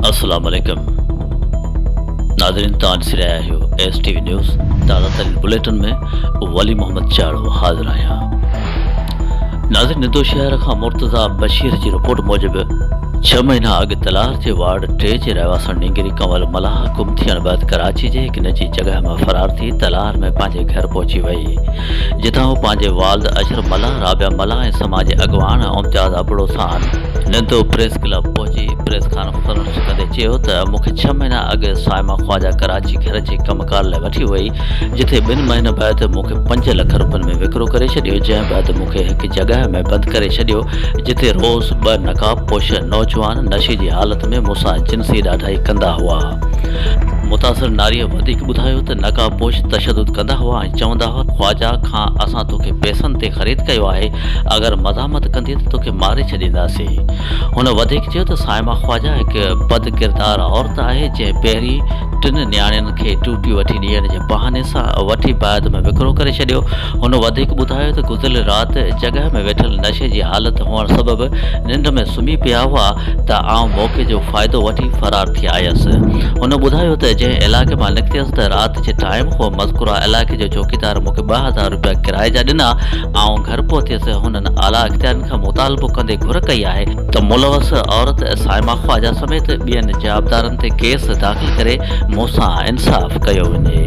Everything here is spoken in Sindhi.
السلام عليڪم ناظرين توهان ڏسي رهيا آهيو ايس ٽي وي نيوز تازه ترين بليٽن ۾ ولي محمد چاڙو حاضر آهيان ناظرين ندو شهر کان مرتضا بشير جي رپورٽ موجب ڇهه مهينا اڳ تلار جي وارڊ ٽي جي رهواسڻ نينگري ڪنول ملاح گم ٿيڻ بعد ڪراچي جي هڪ نجي جڳهه مان فرار ٿي تلار ۾ پنهنجي گهر پهچي وئي جتان هو پنهنجي والد اشرف ملاح، رابعه ملاح ۽ سماج جي اڳواڻ امتياز ابڙو سان نندو پريس ڪلب پهچي پريس ڪانفرنس ڪندي چيو ته مون کي ڇهه مهينا اڳ صائمه خواجه ڪراچي گهر جي ڪم ڪار لاء وٺي وئي جتي ٻن مهينن بعد مون کي پنج لک روپين ۾ وڪرو ڪري ڇڏيو جنهن بعد مون کي هڪ جڳهه ۾ بند ڪري ڇڏيو جتي روز ٻه نقاب پوش نوجوان نشي جي حالت ۾ مون سان جنسي ڏاڍائي ڪندا هئا. متاثر ناريء وڌيڪ ٻڌايو ته نقاب پوش تشدد ڪندا هئا ۽ چوندا هئا خواجه کان اسان توکي پئسن تي خريد ڪيو آهي، اگر مزاحمت ڪندينء ته توکي ماري ڇڏينداسين. هن وڌيڪ چيو ته صائمه خواجه هڪ بد ڪردار عورت آهي، جنهن پهرين ٽن نياڻين کي ٽوٽي وٺي ڏيڻ جي بهاني سان وٺي بعد ۾ وڪرو ڪري ڇڏيو. هن وڌيڪ ٻڌايو ته گذريل رات جڳهه ۾ ويٺل نشي جي حالت هئڻ سبب ننڊ ۾ سمهي پيا هئا ته آئون موقعي جو فائدو وٺي فرار ٿي آيس. هن ٻڌايو ته جنهن علائقي مان نڪتيس ته رات جي ٽائيم هو مذڪوره علائقي جو چوڪيدار مون کي ٻه هزار روپيا ڪرايي جا ڏنا. آئون گهر پهتيس، هنن اعليٰ اختيارين کان مطالبو ڪندي گهر ڪئي آهي، ته ملوث عورت صائمه خواجه سميت ٻين جوابدارن تي ڪيس داخل ڪري مون سان انصاف ڪيو وڃي.